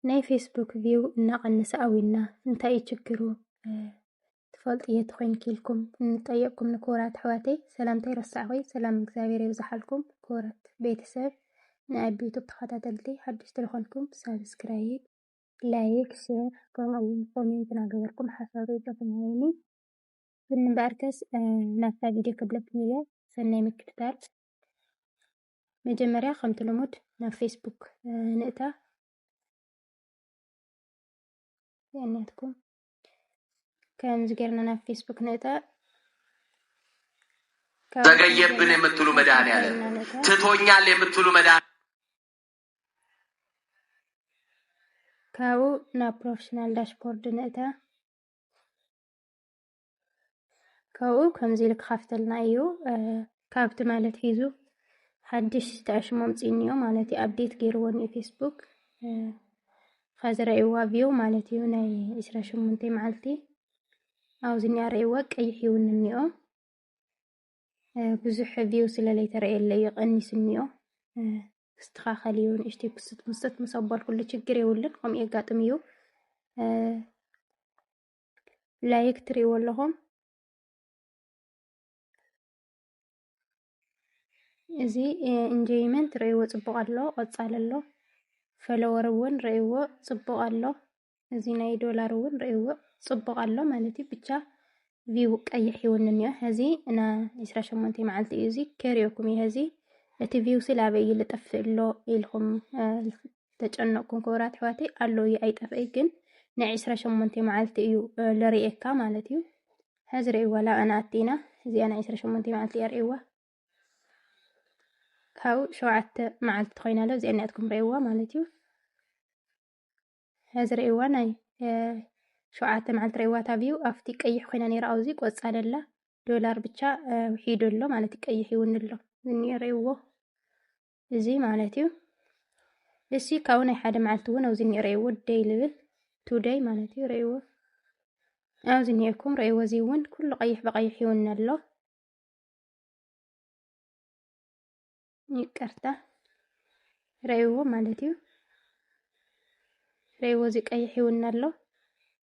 ናይ ፌስቡክ ቪው እናቐነሰ ኣዊና እንታይ እዩ ችግሩ ትፈልጡ እየ ተኮይንኪ ኢልኩም እንጠየቅኩም ንክቡራት ኣሕዋተይ ሰላምታ ይረሳዕኹ ሰላም እግዚኣብሔር የብዝሓልኩም ክቡራት ቤተሰብ ናይ ኣቢ ዩቱብ ተኸታተልቲ ሓድሽ ትልኾንኩም ሳብስክራይብ ላይክ ሼር ከምኡ እውን ኮሜንት እናገበርኩም ሓሳብ ሪኢቶኹም ወይኒ ግን እምበኣርከስ ናብታ ቪድዮ ክብለኩም እየ ሰናይ ምክትታል መጀመርያ ከምቲ ልሙድ ናብ ፌስቡክ ንእታ የእንያትኩም ከምዚ ጌርና ናብ ፌስቡክ ንእታ ዘገየብን የምትሉ መድሃን ያለ ትቶኛል የምትሉ መድ ካብኡ ናብ ፕሮፌሽናል ዳሽቦርድ ንእታ ካብኡ ከምዚ ኢሉ ክኸፍተልና እዩ ካብ ትማሊ ኣትሒዙ ሓድሽ ተዕሽሞ ኣምፂኒ እዮ ማለት እዩ ኣብዴት ገይርዎ እኒኦ ፌስቡክ ኸዚ ረእይዋ ቪው ማለት እዩ ናይ ዕስራ ሸሞንተ መዓልቲ ኣብዚ እኒኣ ረእይዋ ቀይሕ ይውን እኒኦ ብዙሕ ቪው ስለለይተረእየለ እዩ ቀኒሱ እኒኦ ክስተኻኸል እዩ ንእሽተይ ክስት ምስት ምስ ኣባልኩሉ ችግር የብሉን ከምኡ የጋጥም እዩ ላይክ ትሪእዎ ኣለኹም እዚ ኢንጆይመንት ርእይዎ ፅቡቕ ኣሎ ቐፃሊ ኣሎ ፈለወር እውን ርእይዎ ፅቡቕ ኣሎ እዚ ናይ ዶላር እውን ርእይዎ ፅቡቕ ኣሎ ማለት እዩ ብቻ ቪው ቀይሕ ይውን እኒኦ ሕዚ እና ዕስራ ሸሞንተ መዓልቲ እዩ እዚ ከሪኦኩም እዩ ሕዚ እቲ ቪው ስለ ኣበይ እዩ ልጠፍእ ኣሎ ኢልኩም ዝተጨነቕኩም ክቡራት ኣሕዋተይ ኣሎ እዩ ኣይጠፍእይ ግን ናይ ዕስራ ሸሞንተ መዓልቲ እዩ ልርእየካ ማለት እዩ ሕዚ ርእይዋ ላብኣና ኣቲና እዚኣ ናይ ዕስራ ሸሞንተ መዓልቲ እያ ርእይዋ ካብኡ ሸውዓተ መዓልቲ ኮይና ኣሎ እዚኣ ናትኩም ርእይዋ ማለት እዩ ሕዚ ርእይዋ ናይ ሸውዓተ መዓልቲ ርእይዋ ታብዩ ኣብቲ ቀይሕ ኮይና ነይራ ኣብዚ ቆፃል ኣላ ዶላር ብቻ ውሒዱ ኣሎ ማለት እዩ ቀይሕ ይውን ኣሎ ዝኒኦ ርእይዎ እዚ ማለት እዩ እሲ ካብኡ ናይ ሓደ መዓልቲ እውን ኣብዚ እኒኦ ረእይዎ ደይ ልብል ቱደይ ማለት እዩ ረእይዎ ኣብዚ እኒኦኩም ረእይዎ እዚ እውን ኩሉ ቀይሕ ብቀይሕ ይውነ ኣሎ ይቅርታ ረእይዎ ማለት እዩ ረእይዎ እዚ ቀይሕ ይውነ ኣሎ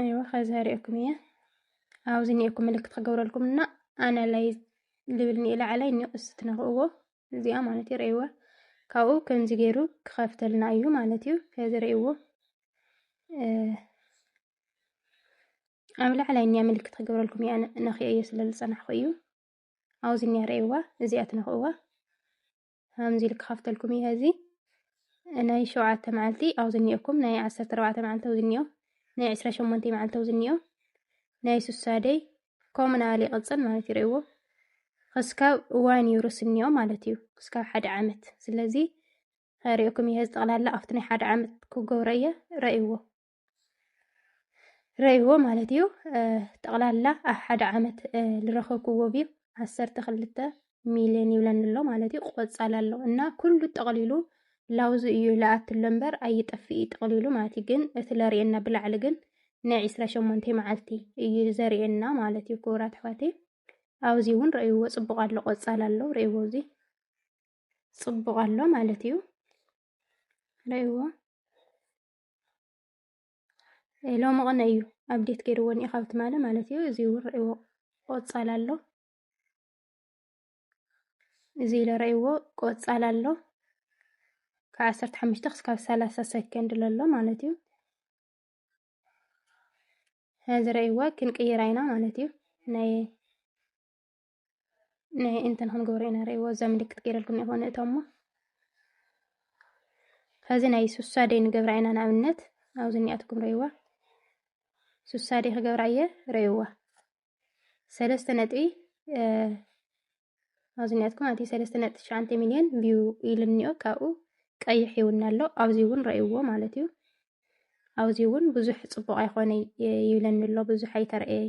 ኣይዋ ከዚ ኣርእኩም እየ ኣብዚ ኒኤኩም ምልክት ክገብረልኩም እና ኣናላይዝ ልብል ኒኤ ላዕላይ ኒኦ እስ ትነክእዎ እዚኣ ማለት እዩ ርእይዋ ካብኡ ከምዚ ገይሩ ክኸፍተልና እዩ ማለት እዩ ከዚ ርእይዎ ኣብ ላዕላይ ኒያ ምልክት ክገብረልኩም እያ ነክየ እየ ስለ ዝፀናሕኩ እዩ ኣብዚ ኒያ ርእይዋ እዚኣ ትነክእዋ ከምዚ ኢሉ ክኸፍተልኩም እዩ ሀዚ ናይ ሸውዓተ መዓልቲ ኣብዚ እኒኦኩም ናይ ዓሰርተ ኣርባዕተ መዓልቲ ኣብዚ እኒኦ ናይ ዕስራ ሸሞንተ መዓልቲ ኣብዚ እኒኦ ናይ ሱሳደይ ከምኡ ናበለ ይቕፅል ማለት እዩ ርእይዎ ክስካብ ዋን ዩሩስ እኒኦ ማለት እዩ ክስካብ ሓደ ዓመት ስለዚ ርእኩም እየ ጠቕላላ ኣብቲ ናይ ሓደ ዓመት ክገብሮ እየ ረእይዎ ረይዎ ማለት እዩ ጠቕላላ ኣብ ሓደ ዓመት ዝረኸብክዎ ቪዩ ዓሰርተ ክልተ ሚልዮን ይብለኒ ኣሎ ማለት እዩ ቆፃል ኣሎ እና ኩሉ ጠቕሊሉ ላውዙ እዩ ለኣት ኣሎ እምበር ኣይጠፍእ እዩ ጠቕሊሉ ማለት እዩ ግን እቲ ለርእየና ብላዕሊ ግን ናይ ዕስራ ሸሞንተ መዓልቲ እዩ ዘርእየና ማለት እዩ ክቡራት ኣሕዋት ኣብዚ እውን ረእይዎ ፅቡቕ ኣሎ ቆፃል ኣሎ ረእይዎ እዚ ፅቡቕ ኣሎ ማለት እዩ ረእይዎ ሎሚ ቕነ እዩ ኣብዴት ገይርዎ እኒኦ ካብ ትማሊ ማለት እዩ እዚ እውን ርእይዎ ቆፃል ኣሎ እዚ ኢለ ርእይዎ ቆፃል ኣሎ ካብ ዓሰርተ ሓሙሽተ ክስካብ ሰላሳ ሰከንድ ለሎ ማለት እዩ እዚ ርእይዎ ክንቅይራ ኢና ማለት እዩ ናይ ናይ እንትን ክንገብሮ ኢና ርእይዎ እዛ ምልክት ገይረልኩም እኒኦ ንእቶሞ ሕዚ ናይ ሱሳዴ ንገብራ ኢና ንኣብነት ኣብዚ እኒኣትኩም ርእይዋ ሱሳዴ ክገብራ እየ ርእይዋ ሰለስተ ነጥቢ ኣብዚ እኒኣትኩም ኣቲ ሰለስተ ነጥቢ ትሽዓንተ ሚልዮን ቪው ኢሉ እኒኦ ካብኡ ቀይሕ ይውና ኣሎ ኣብዚ እውን ርእይዎ ማለት እዩ ኣብዚ እውን ብዙሕ ፅቡቕ ኣይኮነ ይብለኒ ኣሎ ብዙሕ ኣይተርእየይ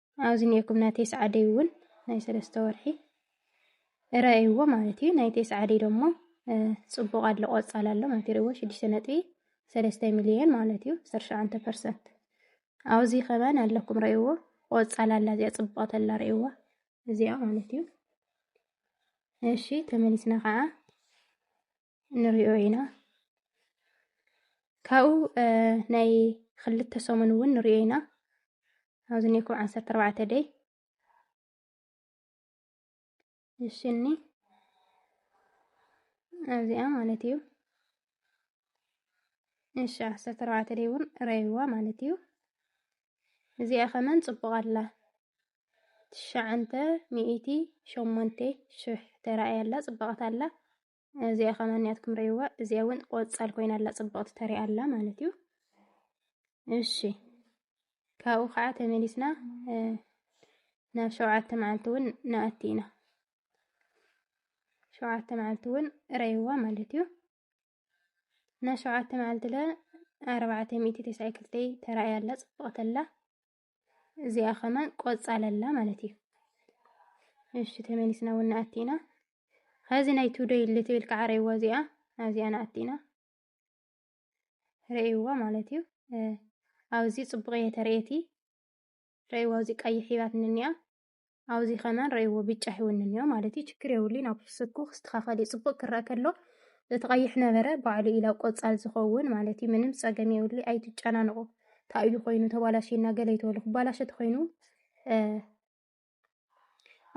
ኣብዚ ኔርኩም ናይ ቴስዓደይ እውን ናይ ሰለስተ ወርሒ እረእይዎ ማለት እዩ። ናይ ቴስዓደይ ደሞ ፅቡቕ ኣሎ ቆፃል ኣሎ ማለት ይርእዎ ሽዱሽተ ነጥቢ ሰለስተ ሚልዮን ማለት እዩ ዓሰርተ ሸውዓተ ፐርሰንት ኣብዚ ከማን ኣለኩም ረእይዎ ቆፃል ኣላ እዚኣ ፅቡቐት ኣላ ረእይዋ እዚኣ ማለት እዩ። እሺ ተመሊስና ከዓ ንሪኦ ኢና ካብኡ ናይ ክልተ ሰሙን እውን ንሪኦ ኢና ኣብዚ ኔኩ ዓሰርተ ኣርባዕተ ደይ እሽኒ ኣብዚኣ ማለት እዩ እሺ ዓሰርተ ኣርባዕተ ደይ እውን ረይዋ ማለት እዩ እዚኣ ከመን ፅቡቅ ኣላ ትሽዓንተ ሚእቲ ሸሞንተ ሽሕ ተራእያ ኣላ ፅብቅት ኣላ እዚኣ ከማን ያትኩም ረይዋ እዚኣ እውን ቆፃል ኮይና ኣላ ፅብቕቲ ተሪኣ ኣላ ማለት እዩ። እሺ ካብኡ ከዓ ተመሊስና ናብ ሸውዓተ መዓልቲ እውን ንኣቲ ኢና። ሸውዓተ መዓልቲ እውን ረይዋ ማለት እዩ። እና ሸውዓተ መዓልቲ ለ ኣርባዕተ ሚእቲ ተስዓይ ክልተይ ተራእያ ኣላ ፅብቕቲ ኣላ። እዚኣ ከማን ቆጻል ኣላ ማለት እዩ። እሺ ተመሊስና እውን ንኣቲ ኢና ኸዚ ናይ ቱደይ ልትብል ከዓ ረይዋ እዚኣ ኣብዚኣ ንኣቲ ኢና ረይዋ ማለት እዩ። ኣብዚ ፅቡቅ እየ ተርእየቲ ረይዋ እዚ ቀይሕ ሂባት ንኒኣ ኣብዚ ከማን ረእይዎ ብጫ ይውንን እዮ ማለት እዩ። ችግር የብሉን ኣብ ስኩ ክስተኻኸል እዩ። ፅቡቅ ክረአ ከሎ እቲ ቀይሕ ነበረ ባዕሉ ኢላ ቆፃል ዝኸውን ማለት እዩ። ምንም ፀገም የብሉ ኣይትጨናንቁ። ታእዩ ኮይኑ ተባላሽና ገለ ይተበሉ ክባላሸ ተኮይኑ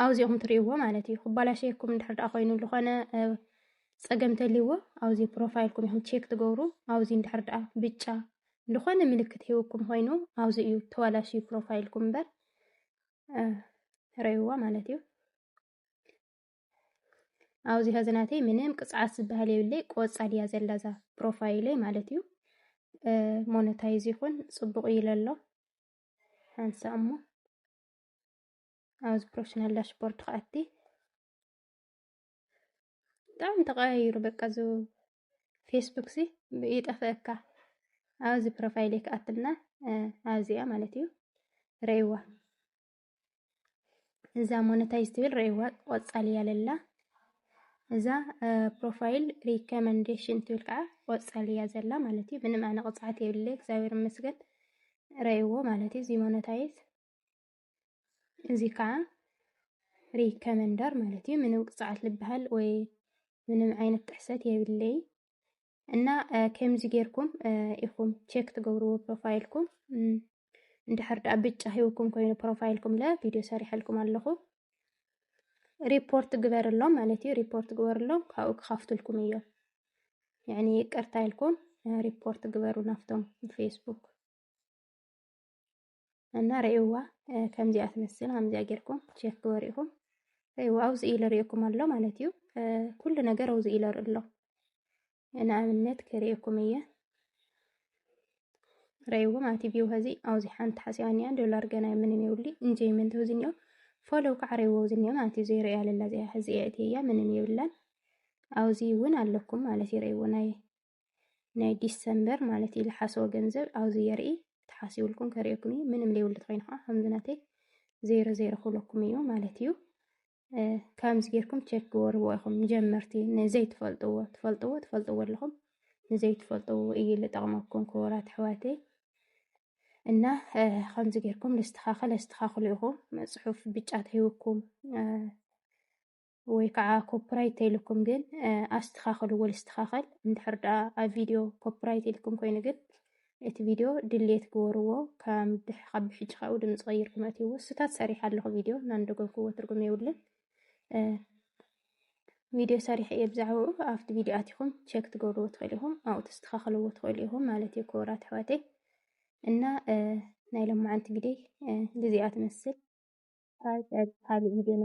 ኣብዚኦም ትርእይዎ ማለት እዩ። ክባላሸየኩም እንድሕር ደኣ ኮይኑ ዝኾነ ፀገም ተልይዎ ኣብዚ ፕሮፋይልኩም ኢኹም ቼክ ትገብሩ። ኣብዚ እንድሕር ደኣ ብጫ ዝኾነ ምልክት ሂውኩም ኮይኑ ኣብዚ እዩ ተባላሽዩ ፕሮፋይልኩም እምበር ረይዋ ማለት እዩ ኣብዚ ሀዚ ናተይ ምንም ቅፅዓት ዝበሃል የብለይ ቆፃል እያ ዘላ እዛ ፕሮፋይለይ ማለት እዩ ሞነታይዝ ይኹን ፅቡቅ ኢለ ኣሎ ሓንሳ እሞ ኣብዚ ፕሮፌሽናል ዳሽቦርድ ከኣቲ ብጣዕሚ ተቀያይሩ በቃ ፌስቡክ ሲ ይጠፍእካ ኣብዚ ፕሮፋይል ክኣትና ኣብዚኣ ማለት እዩ ረይዋ እዛ ሞነታይዝ ትብል ረይዋ ቆፃል እያ ለላ እዛ ፕሮፋይል ሪኮመንዴሽን ትብል ከዓ ቆፃል እያ ዘላ ማለት እዩ ምንም ኣነ ቅፅዓት የብለ እግዚኣብሔር ይመስገን ረይዎ ማለት እዩ እዚ ሞነታይዝ እዚ ከዓ ሪከመንደር ማለት እዩ። ምንም ቅፅዓት ልበሃል ወይ ምንም ዓይነት ጥሕሰት የብለይ እና ከምዚ ጌርኩም ኢኹም ቼክ ትገብርዎ ፕሮፋይልኩም እንድሕር ደኣ ብጫ ሂውኩም ኮይኑ ፕሮፋይልኩም ለ ቪድዮ ሰሪሐልኩም ኣለኹ ሪፖርት ግበርሎም ማለት እዩ። ሪፖርት ግበርሎም ካብኡ ክኸፍትልኩም እዮ ያኒ ይቅርታ ኢልኩም ሪፖርት ግበሩ ናፍቶም ፌስቡክ እና ርእይዋ ከምዚኣ ትመስል ከምዚኣ ጌርኩም ቼክ ግበሩ ኢኹም ርእይዋ ኣብዚ ኢለ ርእየኩም ኣሎ ማለት እዩ ኩሉ ነገር ኣብዚ ኢለ ኣሎ ንኣብነት ክርእየኩም እየ ርእይዎ ማለት እዩ ቪው ኸዚ ኣብዚ ሓንቲ ሓሲባኒያ ዶላር ገና ምንም የብሊ እንጀይመንት እዚ እኒኦ ፎሎው ከዓ ርእይዎ እዚ እኒኦ ማለት እዩ ዘይርእያ ለላ እዚኣ ኸዚ እያ ምንም የብላን ኣብዚ እውን ኣለኩም ማለት እዩ ርእይዎ ናይ ናይ ዲሰምበር ማለት እዩ ዝሓስቦ ገንዘብ ኣብዚ የርኢ ተሓሲብልኩም ከርእየኩም እዩ ምንም ዘይብሉ ትኮይኑ ከዓ ከምዚ ናተይ ዜሮ ዜሮ ክብለኩም እዩ ማለት እዩ ከምዚ ጌርኩም ቸክ ክወርዎ ኢኹም ንጀመርቲ ንዘይትፈልጥዎ ትፈልጥዎ ትፈልጥዎ ኣለኹም ንዘይትፈልጥዎ እዩ ዝጠቕመኩም ክቡራት ኣሕዋተይ እና ከምዚ ጌርኩም ልስተኻኸል ኣስተኻኽሉ ኢኹም ፅሑፍ ብጫ ተሂብኩም ወይ ከዓ ኮፕራይት ተይልኩም ግን ኣስተኻኽልዎ ልስተኻኸል እንድሕር ደኣ ኣብ ቪድዮ ኮፕራይት ኢልኩም ኮይኑ ግን እቲ ቪድዮ ድሌት ግበርዎ ካብ ብሕጂ ካብኡ ድምፂ ቀይርኩም ኣትይዎ ስታት ሰሪሕ ኣለኹ ቪድዮ እናንደገኩዎ ትርጉም የብሉን ቪድዮ ሰሪሐ እየ ብዛዕባኡ ኣብቲ ቪድዮ ኣትኹም ቸክ ትገብርዎ ትኽእሉ ኢኹም ኣብኡ ተስተኻኽልዎ ትኽእሉ ኢኹም ማለት እዩ ክቡራት ኣሕዋተይ እና ናይ ሎማዓንቲ ግደይ ግዜኣ ትመስል ካልእ ቪድዮና